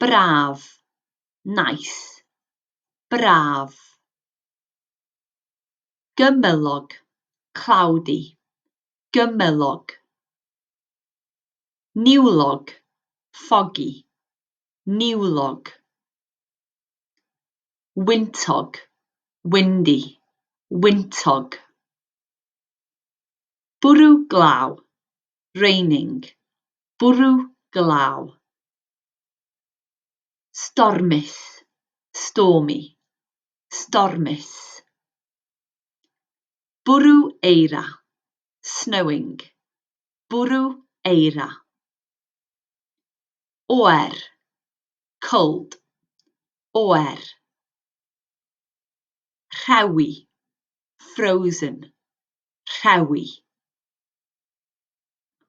Braf. Nice. Braf. Gymylog. Cloudy. Gymylog. Niwlog. Foggy. Niwlog. Wyntog. Windy. Wyntog. Bwrw glaw. Raining. Bwrw glaw. Stormus, stormy, stormus. Bwrw eira, snowing, bwrw eira. Oer, cold, oer. Rhewi, frozen, rhewi.